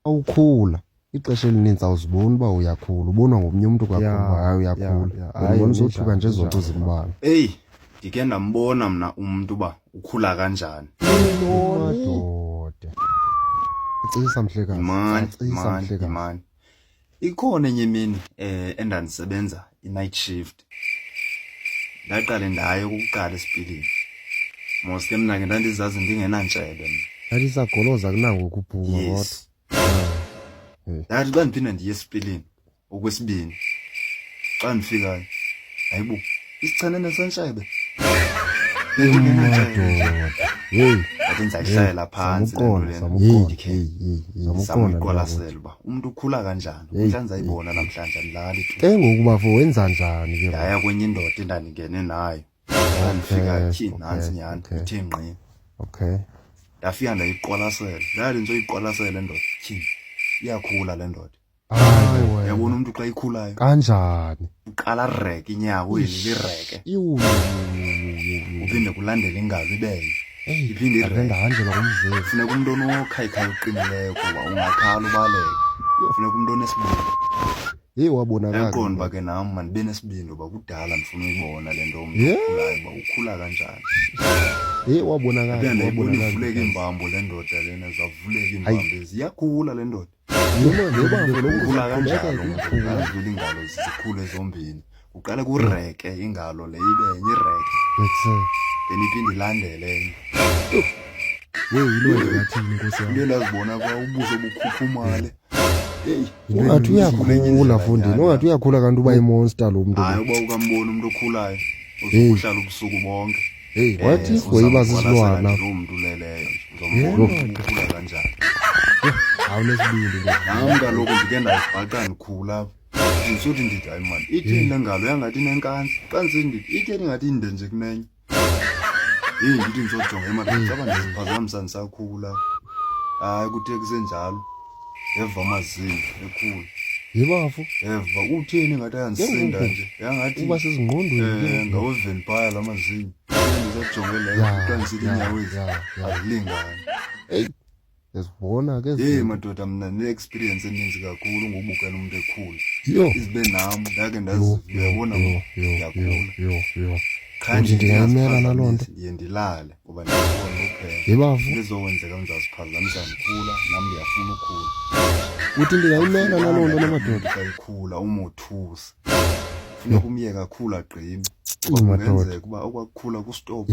awukhula ixesha elininzi awuziboni uba uyakhula ubonwa ngomnye umntu kakhulu hayi uyakhula ndibona sothuka nje zonto zimbalwa eyi ndike ndambona mna umntu uba ukhula kanjani madoda acisa mhlekazi Ikhona enye imini eh endandisebenza i-night shift. Ndaqale ndayo ukuqala esipilini. Mos ke mna ke ndandizazi ndingenantshebe mna. Ndandisagoloza kunango ukuphuma kodwa. Yes. Eh. Ndathi xa ndiphinda ndiye esipilini okwesibini. Xa ndifikayo hayibo Isichane nesentshebe. Yathi ndizayihlayela phantsi samuyikolasela uba umntu ukhula kanjani umhla ndizayibona namhlanje andilali ke ngoku bafo wenza njani ke ndaya kwenye indoda endandingene nayo ndandifika tyhini nantsi nyhani ithe ngqi okay ndafika ndayiqwalasela ndayathi nditsoyiqwalasela le ndoda tyhini iyakhula le ndoda Hayi wena. yabona umntu xa ikhulayo Kanjani? uqala rek inyawo eli lireke Iwu. uphinde kulandele ingalo ibele Hey, iphinde ave ireke ndahanjelwa ngumzimba. funeka umntu onokhayikhaya uqinileyo kuba ungakhala ubaleke funeka umntu onesibindi Hey wabonakala. yaqonda uba ke nam mandibe nesibindi uba kudala ndifuna uyibona le nto umntu Yeah. okhulayo uba ukhula kanjani Hey wabonakala. abe ndayibona ivuleka Wabonakala. iimbambo le ndoda lena zavuleka iimbambo ezi iyakhula le ndoda noma noma ngolokugula kanjalo ngokudlula ingalo zikhule zombini uqale kureke ingalo le ibe enye ireke then iphinde ilandele enye yeyi yilo engathini nkosi yam into endazibona kwa ubuso bukhuphumale ungathi uyakhula fundini ungathi uyakhula kanti uba imonster lo mntu hayi uba ukambona umntu okhulayo uzokuhlala ubusuku bonke Hey, wathi uyiba sisilwana. Umntu leleyo. Ngomkhulu kanjani? Awunesibindi ke. Hawu kaloku ndike ndazibhaqa ndikhula. Ndisuthi ndithi hayi man, ithini le ngalo yangathi nenkansi. Xa ndisithi ndithi ithini ngathi inde nje kunenye. Hey, ndithi ndizojonga emadodeni, caba ndiziphazamisa ndisakhula. Hayi kuthi kusenjalo. eva amazinyo ekhulu yebafo eva utheni ngathi ayandisinda nje yangathi uba sezingqondweni eh, ngaweveni phaya la mazinyo ndisajonge leyo kuthiwa ndisithi inyawezi azilingani eyi ndizibona ke yeyi madoda mna ne-experience eninzi kakhulu ngobukela umntu ekhula izibe nam ndake ndaziyabona ndiyagula qha nje ndiyaziphazamise ndiye ndilale ngoba ndiyafuna uphela yebavu ndizokwenzeka ndizaziphazamisa ndikhula nam ndiyafuna ukhula uthi ndingayimela naloo nto namadoda sayikhula umothusa funeka umyeke akhula agqibe kungenzeka ukuba okwakukhula kustophu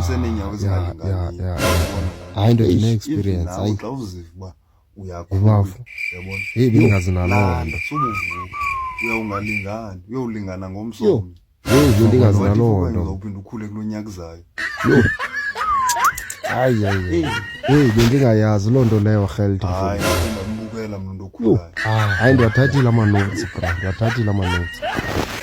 seneenyawo ezingalingani hayi nto ine-experience hayi xa uziva uba uyakhula yabona heyi bengazi naloo nto subuvuka uyawungalingani uyowulingana ngomsomnye Yey le nto ingazina loo nto. Uzawuphinda ukhule kulo nyaka uzayo. Yho. Hayi hayi. Hey, hey bendingayazi loo nto leyo Heldi. Hayi, ndambukela mna ndokhulayo. Hayi ndiwathathile ama-notes bra, ndiwathathile ama-notes.